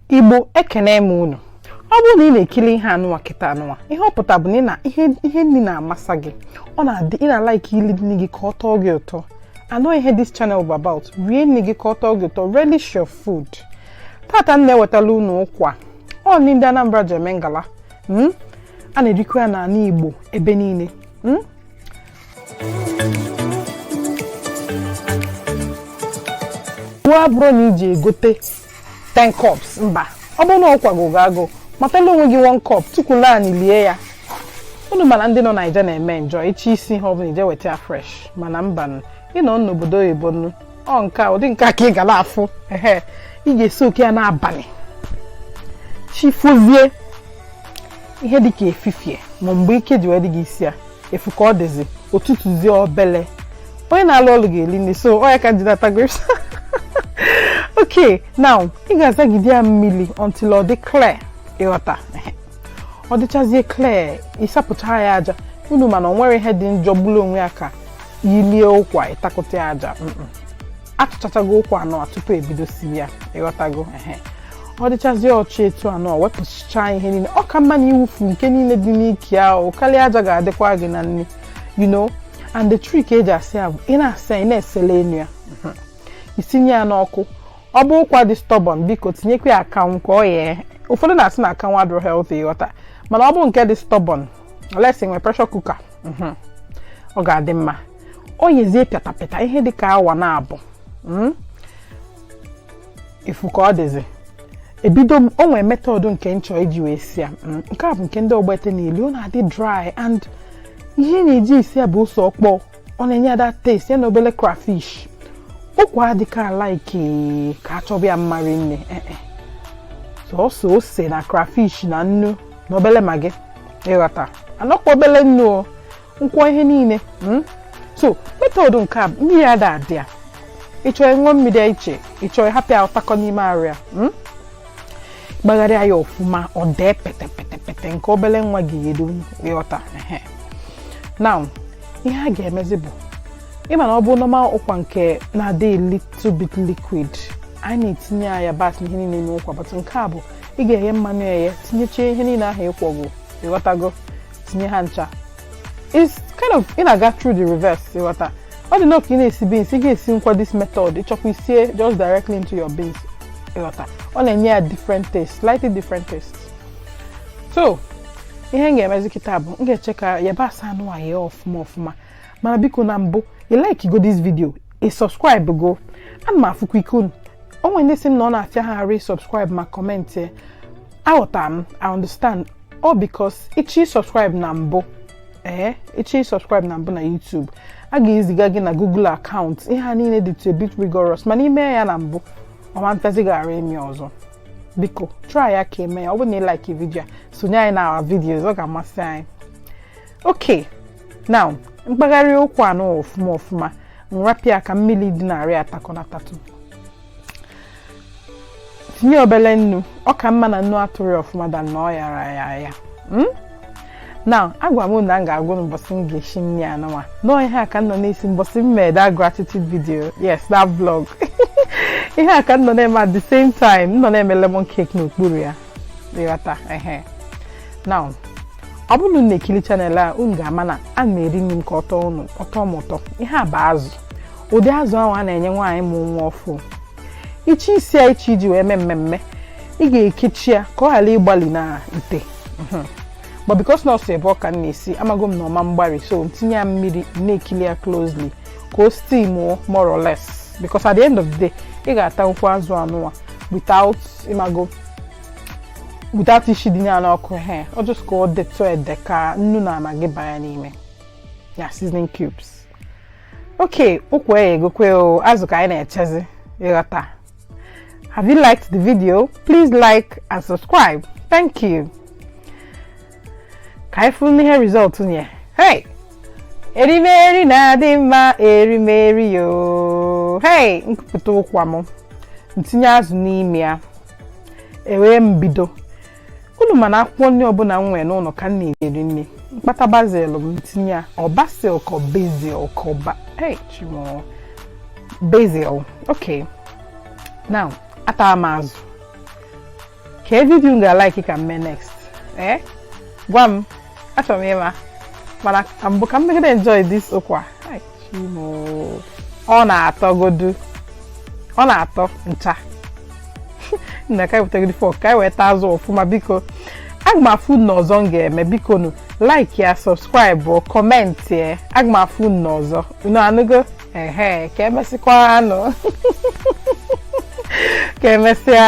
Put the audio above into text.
igbo ekene m unu ọ bụrụ na ị na-ekili ihe anụnwa kịta anụnwa ihe ọ pụta bụ na ihe nni na-amasa gị ọ na-adị ị na-alike ili nni gị ka ọ tọọ gị ụtọ and ọ ihe this channel bụ about rie nni gị ka ọ tọọ gị ụtọ relish your food tata m na-ewetala unu ụkwa ọ nni ndị Anambra ji eme ngala hmm? a na-erikwa ya n'anị Igbo ebe niile hmm? nwa bụrụ na iji egote 10 cups mba ọ bụrụ na ụkwa gụọ gị agụ matala onwe gị 1 cup tukwulu anị lie ya unu ma na ndị nọ naija na-eme enjoy ịchọ isi ihe ọbụla i je weta ya fresh mana mba nụ ị nọ n'obodo oyibo nụ ọ nke a ụdị nke a ka ị ga na-afụ ehe ị ga-esoak ya n'abanị chifozie ihe dịka efifie ma mgbe ike ji wee dị gị isi ya ị fụ ka ọ dịzi o totozie obele onye na-alụ ọlụ ga-eli nni so ọ ya ka m ji na-ata grapes okay now ị ga-azagide ya mmili until ọ dị clear ịghọta ọ dịchazie clear ịsapụcha ya aja unu ma na o nwerọ ihe dị njọ gbulu onwe ya ka ilie ụkwa ịtakụta ya aja achụchachago ụkwa anọ tupu ebido siwe ya ịghọtago ehe ọ dịchazi ọcha etu a nọ wepụchaa ihe niile ọ ka mma na iwufu nke niile dị n'ike ahụ karịa aja ga-adịkwa gị na nri you know and the trick e ji asa ya bụ ị na-asa ya ị na-esele enu ya isinye ya n'ọkụ ọ bụ ụkwa dị stubborn biko tinyekwa ya akanwụ ka o yee ụfọdụ na-asị na akanwụ adịrọ healthy ịghọta mana ọ bụ nke dị stubborn unless i nwe pressure cooker mhm, ọ ga-adị mma o yezie pịatapịata ihe dị ka awa naabọ mm. ị fụ ka ọ dịzi ebido m o nwere method nke nchọ iji wee si ya mm, nke a bụ nke ndị ogbete niile ọ na-adị dry and ihe na-eji esi ya bụ ose ọkpọ ọ na-enye ya that taste ya na obele crayfish ụkwa adịka alike ka a chọba ya mma rinne eh, eh. sọsọ ose na crayfish na nnu na obele Maggi ịghọta and ọkwa obele nnu o nkwọ ihe niile hmm? so method nke a mmiri ada adị ya ị chọọ ị ṅụọ mmiri iche ị chọọ ị hapụ ya ọ takọọ n'ime arụ ya hmm? gbagharịa ya ọfụma o dee petepetepete nke obele nwa gị edu ịghọta now ihe a ga-emezi bụ ị ma na ọ bụ normal ụkwa nke na-adị little bit liquid anyị na-etinye ya yabasị ihe niile n'ụkwa but nke a bụ ị ga-eghe mmanụ eghe tinyechie ihe niile ahụ ị kwọgo ịghọtago tinye ha ncha it's kind of ị na-aga through the reverse ịghọta ọ dị nnọọ ka ị na-esi beans ị ga-esinwukwa this method ị chọkwa i sie just directly into your beans ịghọta ọ na-enye ya different taste slightly different taste so ihe m ga-emezi kịta bụ m ga-eche ka yabasị anụwa ghee ọfụma ọfụma mana biko na mbụ ị like go this video ị subscribe go ana m afụkwa ike unu o nwere ndị sị m na ọ na-afịa ha arụ ịsubscribe ma comment ya aghọtara m i understand ọ because ị chọ ịsubscribe na mbụ ee ị chọ ịsubscribe na mbụ na YouTube a ga-eziga gị na Google account ihe a niile dịtụ a bit rigorous mana i mee ya na mbụ ọ ma mfịazi gị arụ ime ọzọ biko try ya ka i mee ya ọ bụrụ na ị like video a sonye anyị na our videos ọ ga-amasị anyị okay now m kpagharịa ụkwa anụwa ọfụma ọfụma m rapụ ya ka mmiri dị n'arụ ya takọọ na tatụ tinye obele nnu ọ ka mma na nnu atụrọ ya ọfụma than na ọ yara ya ya hmm? now agwa m unu na m ga-agwa unu mbọsị m ga-esi nri anụnwa na ọ ihe a ka m nọ na-esi mbọsị m mee that gratitude video yes that vlog ihe a ka m nọ na-eme at the same time m nọ na-eme lemon cake n'okpuru ya ịghọta ehe now ọ bụrụ na unu na-ekiri channel a unu ga-ama na ana m eri nri m ka ọ tọọ m ụtọ ihe a bụ azụ ụdị azụ ahụ a na-enye nwaanyị mụ nwa ọfụụ ị chọ isi ya ị chọ iji wee mee mmemme ị ga-ekechi ya ka ọ ghara igbali n'ite mhm. but because na ọ sọ ebe ọ ka na-esi amago m na ọ ma mgbari so tinye ya mmiri na-ekili ya closely ka o steam more or less because at the end of the day ị ga-atanwukwa azụ anụwa without ị mago without isidị ya n'ọkụ he ọ just ka ọ detụ ede ka nnu na Maggi banye n'ime ya seasoning cubes okay ụkwa eyegokwa o azụ ka anyị na-echezi ịghọta have you liked the video please like and subscribe thank you ka anyị fụnụ ihe result nye hey erimeri na-adị mma erimeri yo hey m kupụta ụkwa m m tinye azụ n'ime ya e wee m bido unu ma na akwụkwọ nri ọbụla m nwere n'ụlọ ka m na-eri nri m kpata basil m m tinye ya ọ basil ka basil ka ba hey chi m o basil okay now atara m azụ kee video unu ga-alike ka m mee next ee eh? gwa m achọrọ m ịma mana ka mbụ ka m megide enjoy this ụkwa ọ na-atọ godu ọ na-atọ ncha nna ka m wetagodi fork ka anyị wee taa azụ ọfụma biko aga m afụ unu n'ọzọ m ga-eme biko nu like ya subscribe comment ya aga m afụ unu ọzọ unu anụgo ehe ka emesịakwanụ ka emesịa